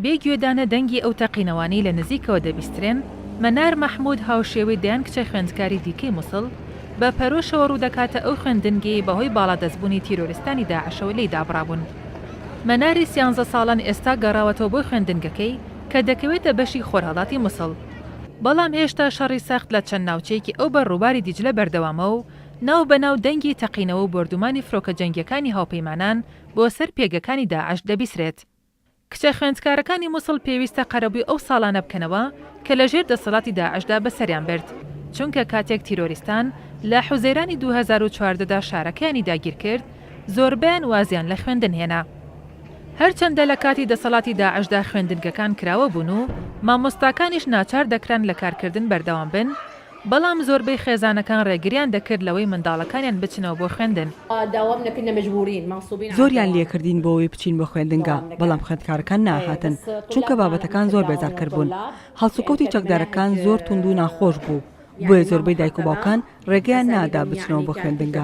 بێ گوێدانە دەنگی ئەو تەقینەوانەی لە نزیکەوە دەبیسترێن، مەنار مەحمود هاوشێوەی دەیان کچە خوێندکاری دیکەی موسڵ، بە پەرۆشەوە ڕوودەکاتە ئەو خوێندنگەی بەهۆی باڵادەستبوونی تیرۆریستانی داعشەوە لێی دابڕابوون. مەناری سیانزە ساڵان ئێستا گەڕاوەتەوە بۆ خوێندنگەکەی کە دەکەوێتە بەشی خۆرهەڵاتی موسڵ، بەڵام هێشتا شەڕی سەخت لە چەند ناوچەیەکی ئەو بەر ڕووباری دیجلە بەردەوامە و ناو بە ناو دەنگی تەقینەوە و بۆردومانی فرۆکە جەنگیەکانی هاوپەیمانان بۆ سەر پێگەکانی داعش دەبیسرێت. کچە خوێندکارەکانی موسڵ پێویستە قەرەبوی ئەو ساڵانە بکەنەوە کە لە ژێر دەسەڵاتی داعشدا بەسەریان برد، چونکە کاتێک تیرۆریستان لە حوزەیرانی دوو هەزار و چواردە دا شارەکەیانی داگیر کرد زۆربەیان وازیان لە خوێندن هێنا. هەرچەندە لە کاتی دەسەڵاتی داعشدا خوێندنگەکان کراوە بوون و مامۆستاکانیش ناچار دەکران لە کارکردن بەردەوام بن، بەڵام زۆربەی خێزانەکان ڕێگریان دەکرد لەوەی منداڵەکانیان بچنەوە بۆ خوێندن. زۆریان لێکردین بۆوەی بچین بۆ خوێندنگا، بەڵام خوێندکارەکان نەئەهاتن، چونکە بابەتەکان زۆر بێزارکەر بوون. هەڵسوکەوتی چەکدارەکان زۆر توند و ناخۆش بوو، بۆیە زۆربەی دایک و باوکان ڕێگەیان نەئەدا بچنەوە بۆ خوێندنگا.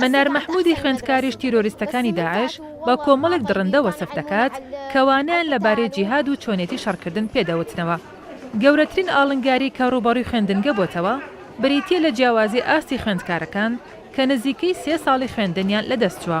مەنار مەحمودی خوێندکاریش تیرۆریستەکانی داعش بە کۆمەڵێک دڕندە وەسف دەکات کە وانەیان لەبارەی جیهاد و چۆنێتی شەڕکردن پێ دەوتنەوە. گەورەترین ئاڵنگاری کە ڕووبەڕووی خوێندنگە بۆتەوە بریتییە لە جیاوازی ئاستی خوێندکارەکان کە نزیکەی سێ ساڵی خوێندنیان لەدەست چووە.